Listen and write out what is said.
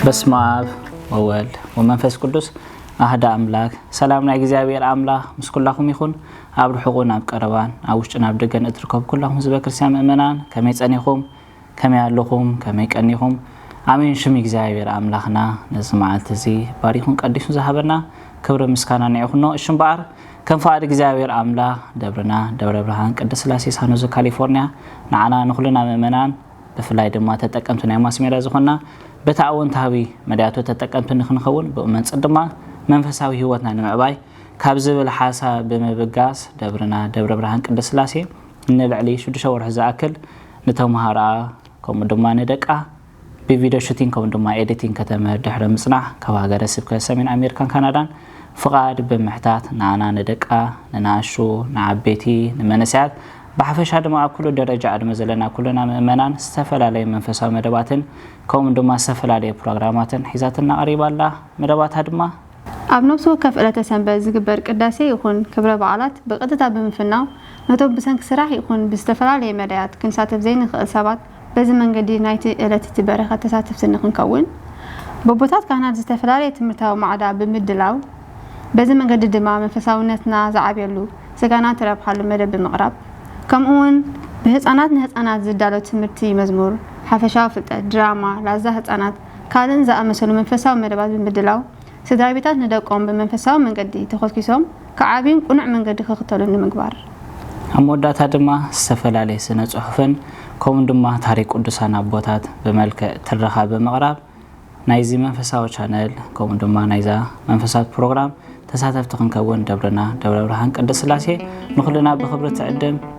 በስመኣብ ወወልድ ወመንፈስ ቅዱስ ኣህዳ ኣምላክ ሰላም ናይ እግዚኣብሔር ኣምላክ ምስ ኩላኹም ይኹን ኣብ ርሑቁን ኣብ ቀረባን ኣብ ውሽጥን ኣብ ደገን እትርከቡ ኩላኹም ህዝበ ክርስትያን ምእመናን ከመይ ጸኒኹም ከመይ ኣለኹም ከመይ ቀኒኹም ኣሜን ሽም እግዚኣብሔር ኣምላኽና ነዚ መዓልቲ እዚ ባሪኹን ቀዲሱ ዝሃበና ክብሪ ምስጋና ንዕ ኩኖ እሽ እምበኣር ከም ፍቓድ እግዚኣብሔር ኣምላኽ ደብርና ደብረ ብርሃን ቅድስት ስላሴ ሳኖዘ ካሊፎርኒያ ንዓና ንኹልና ምእመናን ብፍላይ ድማ ተጠቀምቲ ናይ ማስ ሜድያ ዝኾንና በቲ ኣወንታዊ መዳያቱ ተጠቀምቲ ንክንኸውን ብኡመንፅር ድማ መንፈሳዊ ህይወትና ንምዕባይ ካብ ዝብል ሓሳብ ብምብጋስ ደብርና ደብረ ብርሃን ቅድስት ስላሴ ንልዕሊ ሽዱሽተ ወርሒ ዝኣክል ንተምሃሮኣ ከምኡ ድማ ንደቃ ብቪዲዮ ሹቲንግ ከምኡ ድማ ኤዲቲንግ ከተምህር ድሕሪ ምፅናሕ ካብ ሃገረ ስብከት ሰሜን ኣሜሪካን ካናዳን ፍቓድ ብምሕታት ንኣና ንደቃ ንናኣሹ ንዓበይቲ ንመንእሰያት ብሓፈሻ ድማ ኣብ ኩሉ ደረጃ ዕድመ ዘለና ኩልና ምእመናን ዝተፈላለየ መንፈሳዊ መደባትን ከምኡ ድማ ዝተፈላለየ ፕሮግራማትን ሒዛትና ቀሪባ ኣላ። መደባታ ድማ። ኣብ ነብሲ ወከፍ ዕለተ ሰንበት ዝግበር ቅዳሴ ይኹን ክብረ በዓላት ብቀጥታ ብምፍናው ነቶም ብሰንኪ ስራሕ ይኹን ብዝተፈላለየ መዳያት ክንሳተፍ ዘይንኽእል ሰባት በዚ መንገዲ ናይቲ ዕለት እቲ በረኸት ተሳተፍቲ ንኽንከውን በቦታት ካህናት ዝተፈላለየ ትምህርታዊ ማዕዳ ብምድላው በዚ መንገዲ ድማ መንፈሳውነትና ዝዓብየሉ ስጋና ትረብሓሉ መደብ ብምቕራብ ከምኡውን ብህጻናት ንህጻናት ዝዳሎ ትምህርቲ መዝሙር ሓፈሻዊ ፍልጠት ድራማ ላዛ ህጻናት ካልእን ዝኣመሰሉ መንፈሳዊ መደባት ብምድላው ስድራቤታት ንደቆም ብመንፈሳዊ መንገዲ ተኾስኪሶም ክዓብዩን ቅኑዕ መንገዲ ክኽተሉን ንምግባር። ኣብ መወዳእታ ድማ ዝተፈላለየ ስነ ጽሑፍን ከምኡ ድማ ታሪክ ቅዱሳን ኣቦታት ብመልክዕ ትረኻ ብምቕራብ ናይዚ መንፈሳዊ ቻነል ከምኡ ድማ ናይዛ መንፈሳዊት ፕሮግራም ተሳተፍቲ ክንከውን ደብርና ደብረ ብርሃን ቅድስት ስላሴ ንኹልና ብኽብሪ ትዕድም።